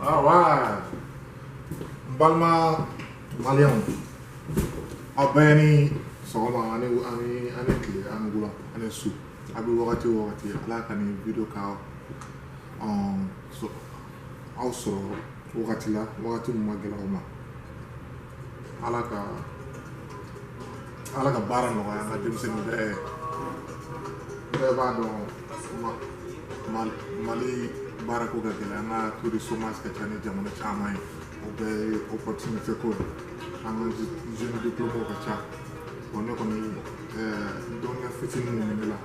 Alright. N balima maliyɛnw aw bɛɛ ni sɔgɔma ani ani ani tile ani wula ani su aw bɛ wagati o wagati ala ka nin video ka um, so, aw sɔrɔ wagati la wagati min man gɛlɛ aw ma ala ka ala ka baara nɔgɔya an ka denmisɛnnin bɛɛ bɛɛ b'a dɔn mali baarako ka gɛlɛ an ka taux de chômage ka ca ni jamana caman ye o bɛɛ ye opportunité ko de an ka jeune diplômé ka ca bon ne kɔni dɔnniya fitinin mun ne la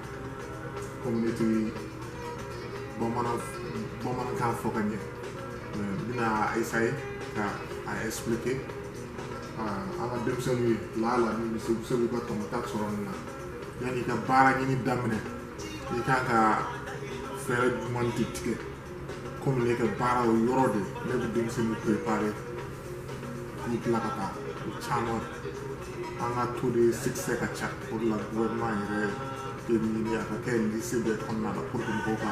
komi ne tɛ bamanankan fɔ ka ɲɛ euh, n bɛna a essayer k'a expliquer euh, an ka denmisɛnninw ye laala min bɛ se u bɛ se k'u ka tɔmɔta sɔrɔ nin na yanni i ka baara ɲini daminɛ i kan ka fɛɛrɛ ɲuman de tigɛ komi ne ka baara o yɔrɔ de ne bɛ denmisɛnninw préparer k'u bila ka taa o caman an ka taux de succès ka ca o de la gouvernement yɛrɛ de ɲini a ka kɛ lycée bɛɛ kɔnɔna la pour que mɔgɔw ka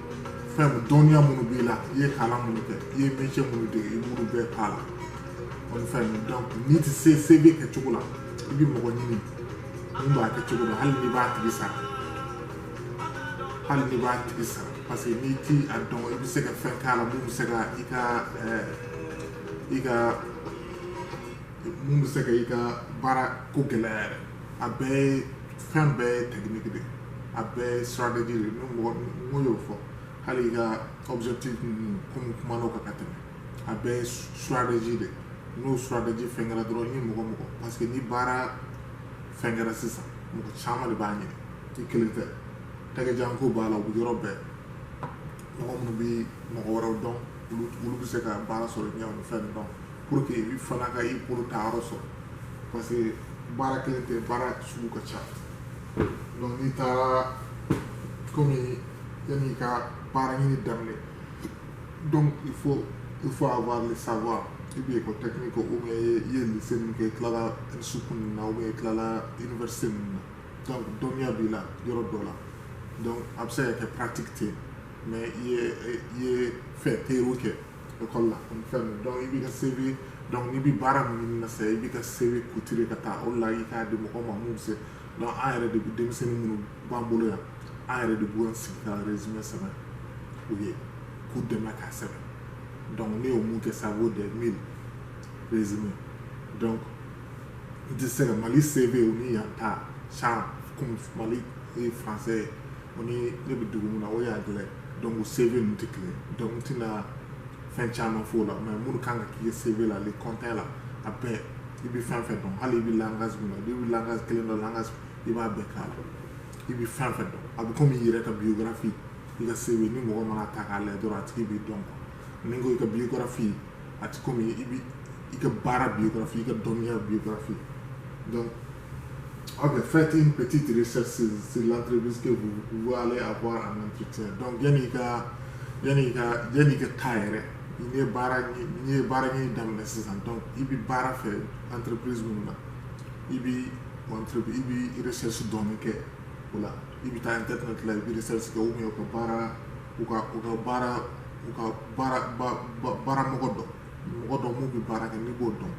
fɛn dɔnniya minnu b'i la i ye kalan minnu kɛ i ye métier minnu dege i b'olu bɛɛ k'a la ani fɛn donc n'i ti se CV kɛ cogo la i bɛ mɔgɔ ɲini min b'a kɛ cogo la hali n'i b'a tigi sara hali n'i b'a tigi sara parce que n'i ti a dɔn i bɛ se ka fɛn k'a la mun bɛ se ka i ka i ka mun bɛ se ka i ka baara ko gɛlɛya yɛrɛ a bɛɛ ye fɛn bɛɛ ye technique de a bɛɛ ye stratégie de ni mɔgɔ n'o y'o fɔ hali i ka objectif ninnu komi kuma n'o kan ka tɛmɛ a bɛɛ ye stratégie de n'o stratégie fɛn kɛra dɔrɔn ni mɔgɔ mɔgɔ parce que ni baara fɛn kɛra sisan mɔgɔ caman de b'a ɲini i kelen tɛ tɛgɛjanko b'a la o bɛ yɔrɔ bɛɛ mɔgɔ minnu bɛ mɔgɔ wɛrɛw dɔn olu bɛ se ka baara sɔrɔ ɲɛ o fɛn dɔn pour que i fana ka i bolo ta yɔrɔ sɔrɔ parce que baara kelen tɛ baara sugu ka ca donc n'i taara komi yanni i ka baara ɲini daminɛ donc il faut il faut avoir le savoir ou bien école technique ou bien i ye lycée min kɛ i tilala school ninnu na ou bien i tilala université ninnu na donc dɔnniya b'i la yɔrɔ dɔ la donc a bɛ se ka kɛ pratique tɛ yen mais i ye i ye fɛn théorie kɛ école la ani fɛn ninnu donc i b'i ka CV donc n'i bɛ baara min ɲini na sisan i b'i ka CV couturer ka taa o de la i k'a di mɔgɔ ma mun bɛ se donc an yɛrɛ de bɛ denmisɛnnin minnu b'an bolo yan an yɛrɛ de b'u sigi ka résumé sɛbɛn u ye k'u dɛmɛ k'a sɛbɛn donc ne y'o mun kɛ ça vaut des mille résumé donc n tɛ se ka mali CV o ni yan ta sanga komi mali ye français ye o ni ne bɛ dugu min na o ye anglais ye donc u CV ninnu tɛ kelen donc n tɛna fɛn caman f'o la mais minnu kan ka k'i CV la le kɔntɛ la a bɛɛ i bɛ fɛn fɛn dɔn hali i bɛ langage min na n'i bɛ langage kelen dɔn langage i b'a bɛɛ k'a la i bɛ fɛn fɛn dɔn a bɛ komi i yɛrɛ ka biographie i ka CV ni mɔgɔ man'a ta k'a lajɛ dɔrɔn a tigi b'i dɔn quoi ni n ko i ka biographie a tɛ komi i bɛ i ka baara biographie i ka dɔnniya biographie donc ok faites une petite recherche sur, sur l'entreprise que vous, vous allez avoir en entretien donc yanni i ka yanni i ka yanni i ka taa yɛrɛ n'i ye baara n'i ye baara ɲini daminɛ sisan donc i bɛ baara fɛ entreprise minnu na i bɛ entreprise i bɛ recherche dɔɔni kɛ o la i bɛ taa internet la i bɛ recherche kɛ ou bien u ka baara u ka u ka baara u ka baara baara mɔgɔ dɔ mɔgɔ dɔ minnu bɛ baara kɛ n'i b'o dɔn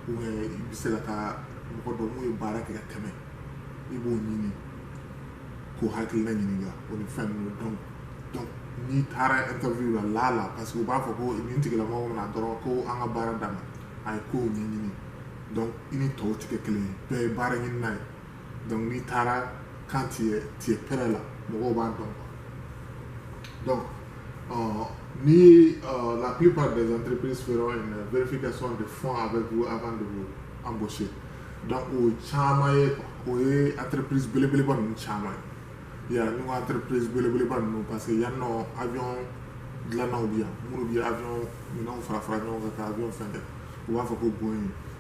ou bien i bɛ se ka taa mɔgɔ dɔ minnu ye baara kɛ ka tɛmɛ i b'o ɲini k'o hakilina ɲininka o ni fɛn ninnu donc n'i taara interview la la la parce que u b'a fɔ ko nin tigilamɔgɔ ma na dɔrɔn ko an ka baara dama a ye kow ɲɛɲini donc i ni tɔw tɛ kɛ kelen ye bɛɛ ye baara ɲinina ye donc n'i taara quand tu es tu es prêt là mɔgɔw b'a dɔn quoi donc euh, ni euh, la plupart des entreprises feront une vérification de fond avec vous avant de vous embaucher donc o ye caman ye quoi o ye entreprise belebeleba ninnu caman ye yan nɔ entreprise belebeleba ninnu parce que yan nɔ avion dilannaw bi yan minnu bi avion minɛnw fara fara ɲɔgɔn kan ka avion fɛn kɛ u b'a fɔ ko boeing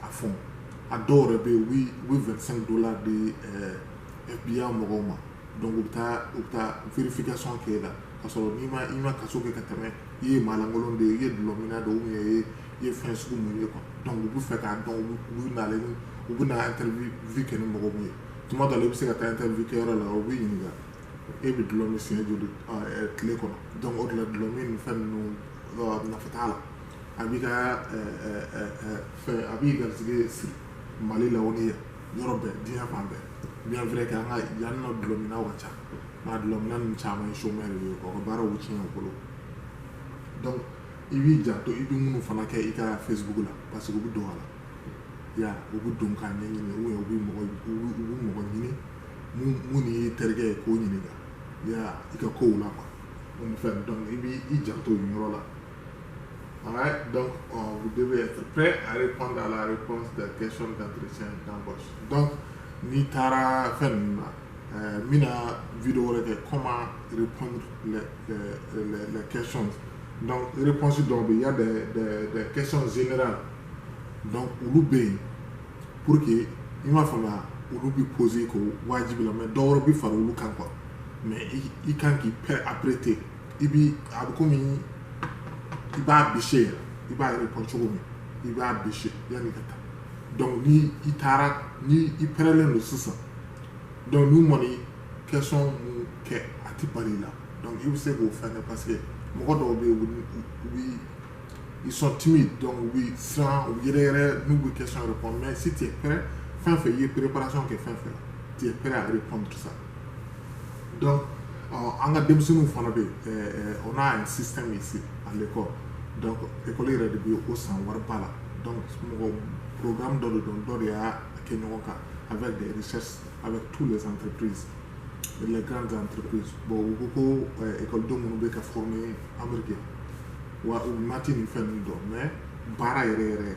à fond a dɔw yɛrɛ bɛ yen u bɛ vingt-cinq dollars di FBI mɔgɔw ma donc u bɛ taa u bɛ taa vérification kɛ la ka sɔrɔ n'i ma i ma kaso kɛ ka tɛmɛ i ye maalankolon de ye i ye dulɔmina de ye ou bien i ye fɛn sugu min ye donc u bɛ fɛ k'a dɔn u bɛ na interview kɛ ni mɔgɔ min ye tuma dɔ la i bɛ se ka taa interview kɛ yɔrɔ la u b'i ɲininka e bɛ dulɔ min siɲɛ joli tile kɔnɔ donc o de la dulɔ min ni fɛn ninnu nafa t'a la a b'i ka fɛn a b'i garisɛgɛ siri mali la o ni yɔrɔ bɛɛ diɲɛ fan bɛɛ bien vrai que an ka yan nɔ dulɔminaw ka ca mais dulɔmina ninnu caman ye chômeur de ye u ka baaraw tiɲɛ u bolo donc i b'i janto i bɛ minnu fana kɛ i ka facebook la parce que u bɛ don a la ya u bɛ don k'a ɲɛɲini ou bien u bɛ mɔgɔ u bɛ u bɛ mɔgɔ ɲini mun mun y'i terikɛ ye k'o ɲininka ya i ka kow la quoi o ni fɛn donc i b'i i janto nin yɔrɔ la Alright, donc on, vous devez être prêt à répondre à la réponse des questions d'entretien d'embauche. Donc, ni tara fenn euh, mina vidéo de comment répondre les, les, les, les questions. Donc, réponse donc il y a des, des, des questions générales. Donc, ou pour que il m'a fallu olu bi poser ko wajibi la mais dɔwɛrɛ bi fara olu kan quoi mais i kan k'i pɛ apprêter i bi a bɛ komi i b'a bûcher yɛrɛ i b'a répondre cogo min i b'a bûcher yanni ka taa donc ni i taara ni i pɛrɛlen don sisan donc n'u man'i question mun kɛ a ti bal'i la donc i bɛ se k'o fɛn kɛ parce que mɔgɔ dɔw bɛ yen u bi ils sont timides donc u bi siran u yɛrɛ yɛrɛ n'u bɛ question répondre mais si tu es prêt fɛn fɛn i ye préparation kɛ fɛn fɛn la tu es prêt à répondre ça dɔn an ka denmisɛnninw fana bɛ o n'a sisan min se ale kɔ ekɔli yɛrɛ de bɛ o san wari ba la mɔgɔ pkan dɔ de dɔn dɔ de y'a kɛ ɲɔgɔn kan a bɛ a bɛ tu de san pe kan pe bɔn ko ko ekɔdenw minnu bɛ ka fɔ ye anbiri wa u mati ni fɛn min dɔn mɛ baara yɛrɛ yɛrɛ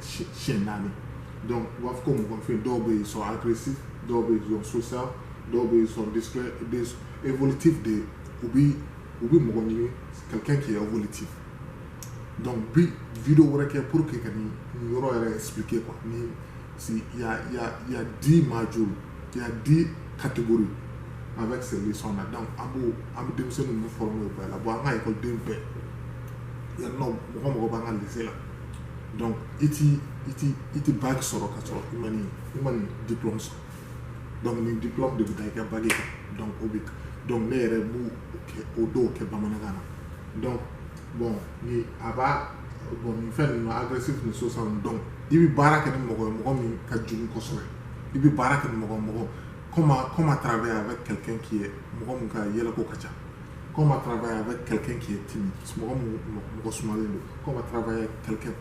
sɛ naani dɔnku u b'a fɔ ko mɔgɔnfin dɔw bɛ sɔn apirisi dɔw bɛ sɔn sosa dɔw bɛ sɔn eoliti de ye u bɛ u bɛ mɔgɔ ɲini ka kɛ kɛ woliti dɔnku bi vi wɛrɛ kɛ pur que ka nin yɔrɔ yɛrɛ sike kuwa ni si di maj di katigori a bɛ segin sɔn na dɔnku an b' an bɛ denmisɛnnin fɔ la bɔ an ka den bɛɛ yan mɔgɔ mɔgɔ b'an ka la donc i t'i i t'i i tɛ bac sɔrɔ ka sɔrɔ i ma nin i ma nin diplôme sɔrɔ donc nin diplôme de bɛ taa i ka bac kan donc o bɛ donc ne yɛrɛ b'u o kɛ o dɔw kɛ bamanankan na donc bon ni a b'a bon nin fɛn ninnu agressif ni social donc i bɛ baara kɛ ni mɔgɔ ye mɔgɔ min ka jugu kosɛbɛ i bɛ baara kɛ ni mɔgɔ mɔgɔ comment comment travailler avec quelqu'un qui est mɔgɔ min ka yɛlɛko ka ca Comment travailler avec quelqu'un qui est timide, mɔgɔ mun mɔgɔ sumalen don, comment travailler avec quelqu'un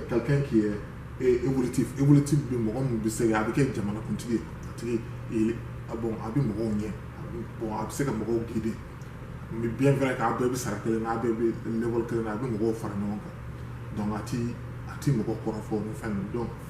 quelqu'un qui est eh, évolutif, évolutif bɛ mɔgɔ mun bɛ se ka a bɛ kɛ jamanakuntigi ye, a tigi il ah bon a bɛ mɔgɔw ɲɛ, bon a bɛ se ka mɔgɔw guider, mais bien vrai k'a bɛɛ bɛ sara kelen na, a bɛɛ bɛ level kelen na, a bɛ mɔgɔw fara ɲɔgɔn kan, donc a ti a ti mɔgɔ kɔrɔfɔ ni fɛn ninnu donc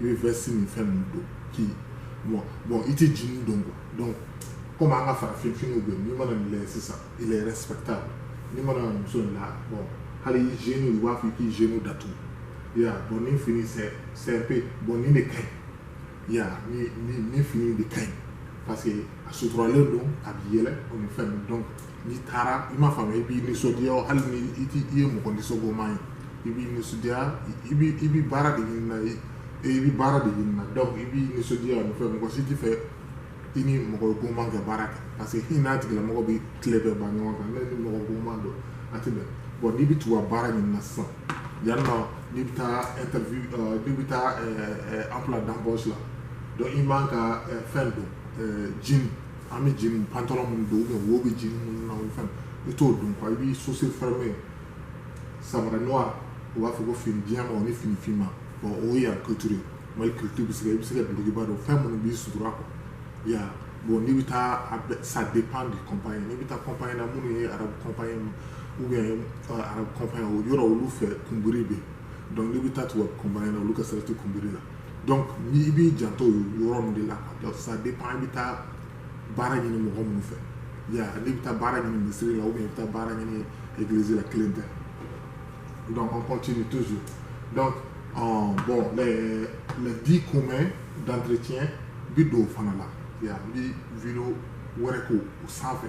i bɛ veste ni fɛn ninnu don k'i bon bon i tɛ jean don quoi donc komi an ka farafin finiw bɛ n'i mana nin lajɛ sisan il est respectable n'i mana muso in la bon hali i genou u b'a fɔ k'i genou datugu yan bon nin fini c'est simple bon nin de ka ɲi yan nin fini de ka ɲi parce que a suturalen don a bɛ yɛlɛ o ni fɛn donc n'i taara i m'a faamu i b'i nisɔndiya hali ni i tɛ i ye mɔgɔ nisɔngoman ye i b'i nisɔndiya i b'i i b'i baara de ɲini na ye i b'i baara de ɲini na donc i b'i nisɔndiya o ni fɛn mɔgɔ si t'a fɛ i ni mɔgɔ goman kɛ baara kɛ parce que i n'a tigilamɔgɔ bɛ tile bɛɛ ban ɲɔgɔn kan ne ni mɔgɔ goman don a tɛ bɛn bon n'i bɛ tugu a baara ɲini na sisan yan nɔ n'i bɛ taa interview euh, n'i bɛ taa emploi d'embauche la donc i man ka euh, fɛn don euh, jean an bɛ jean pantalon minnu don ou bien wo bɛ jean minnu na o fɛn i t'o don quoi i b'i chaussure fermée samara noir u b'a fɔ ko fini jɛman o ni fini finman bon o ye yan culture mali culture bɛ se ka i bɛ se ka dulokiba don fɛn minnu b'i sutura quoi ya bon n'i bɛ taa a bɛ ça dépend du compagnie n'i bɛ taa compagnie na minnu ye arabu compagnie ma ou bien arabu compagnie o yɔrɔ olu fɛ kunbiri bɛ yen donc n'i bɛ taa tubabu compagnie na olu ka sira tɛ kunbiri la donc ni i b'i janto yɔrɔ min de la donc ça dépend i bɛ taa baara ɲini mɔgɔ minnu fɛ ya n'i bɛ taa baara ɲini misiri la ou bien i bɛ taa baara ɲini église la kelen tɛ donc on continue toujours donc euh, bon les les dix communs d'entretien bi don o fana la ya n bi video wɛrɛ k'o o sanfɛ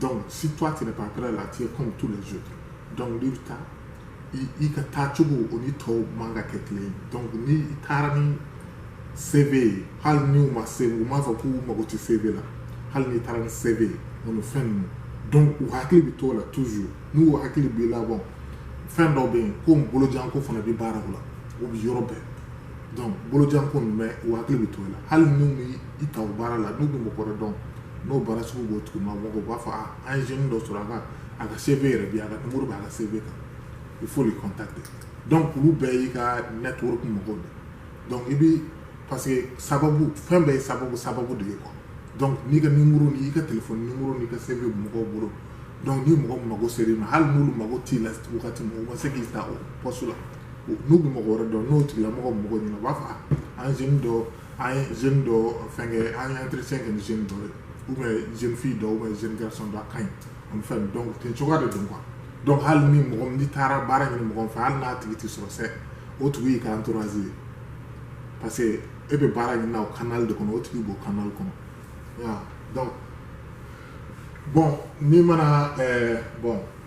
Donc, si toi tu n'es pas prêt là, tu es comme tous les autres. Donc, n'i bɛ taa, i ka taa cogo o ni tɔw man ka kɛ kelen ye donc ni i taara ni cv ye hali ni u ma se u m'a fɔ k'u mago tɛ cv la hali n'i taara ni cv ye o ni fɛn ninnu donc u hakili bɛ t'o la toujours n'u hakili b'i la bon fɛn dɔ bɛ yen ko bolojanko fana bɛ baaraw la o bɛ yɔrɔ bɛɛ donc bolojanko nin bɛ u hakili bɛ to la hali n'u bɛ i ta baara la n'u bɛ mɔgɔ wɛrɛ dɔn n'o baara sugu b'o tigilamɔgɔ u b'a fɔ an ye jeune dɔ sɔrɔ a ka a ka CV yɛrɛ bi a ka nimoro bɛ a ka CV kan il faut les contacter donc olu bɛɛ y'i ka network mɔgɔw de donc i bɛ parce que sababu fɛn bɛɛ ye sababu sababu de ye quoi donc n'i ka nimoro n'i ka telefɔni nimoro n'i ka CV mɔgɔw bolo donc ni mɔgɔ mago sera i ma hali n'olu mago t'i la wagati min u ma se k'i ta o poste la n'u bɛ mɔgɔ wɛrɛ dɔn n'o tigilamɔgɔ mɔgɔ ɲini na u b'a fɔ an ye jeune dɔ an ye jeune dɔ fɛnkɛ an ye entretien kɛ ni jeune dɔ ye ou bien jeune fille dɔ ou bien jeune garçon dɔ a ka ɲi an bɛ fɛn donc ten cogoya de don quoi donc hali ni mɔgɔ min n'i taara baara ɲini mɔgɔ min fɛ hali n'a tigi tɛ sɔrɔ sɛ o tigi y'i ka entourage ye parce que e bɛ baara ɲini na o canal de kɔnɔ o tigi b'o canal kɔnɔ ya donc bon n'i mana ɛɛ bon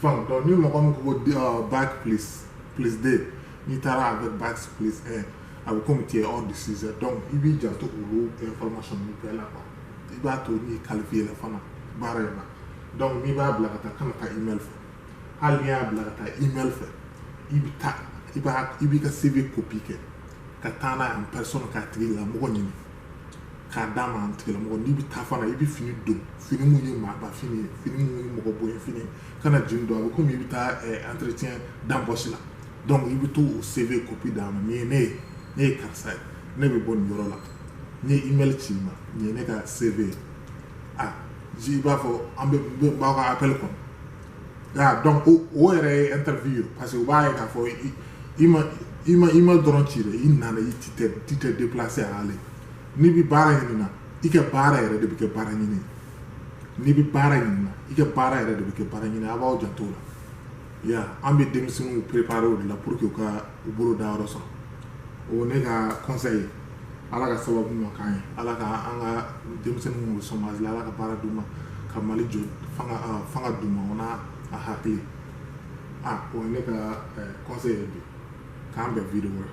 Fɛn donc ni mɔgɔ min ko bac plus deux n'i taara avec bac plus un a bɛ komi tu es hors du sujet donc i b'i janto olu information ninnu bɛɛ la quoi i b'a to n'i qualifié la fana baara in na donc n'i b'a bila ka taa kana taa email fɛ hali n'i y'a bila ka taa email fɛ i bɛ taa i b'a i b'i ka CV copie kɛ ka taa n'a ye en personne k'a tigilamɔgɔ ɲini k'a d'a ma a tigilamɔgɔ n'i bɛ taa fana i bɛ fini don fini mun ye maaba fini ye fini mun ye mɔgɔ bonya fini ye kana jean don a bɛ komi i bɛ taa entretien d'embauche la donc i bɛ to o CV copie d'a ma nin ye ne ye ne ye karisa ye ne bɛ bɔ nin yɔrɔ la n ye email ci i ma nin ye ne ka CV ye a i b'a fɔ an bɛ n b'aw ka appel kɔnɔ Ya donc o o yɛrɛ ye interview ye parce que u b'a ye k'a fɔ i ma i ma i ma dɔrɔn ci dɛ i nana i ti tɛ ti tɛ déplacer a ale n'i bi baara ɲini na i ka baara yɛrɛ de bɛ kɛ baara ɲini n'i bi baara ɲini na i ka baara yɛrɛ de bɛ kɛ baara ɲini a b'aw janto o la ya an bɛ denmisɛnninw préparer o de la pour que u ka u bolo da yɔrɔ sɔrɔ o ne ka conseil ye ala ka sababu ɲuman k'an ye ala ka an ka denmisɛnnin minnu bɛ chômage la ala ka baara d'u ma ka mali jɔ fanga d'u ma o n'a a hakili a o ne ka conseil ye bi k'an bɛn video wɛrɛ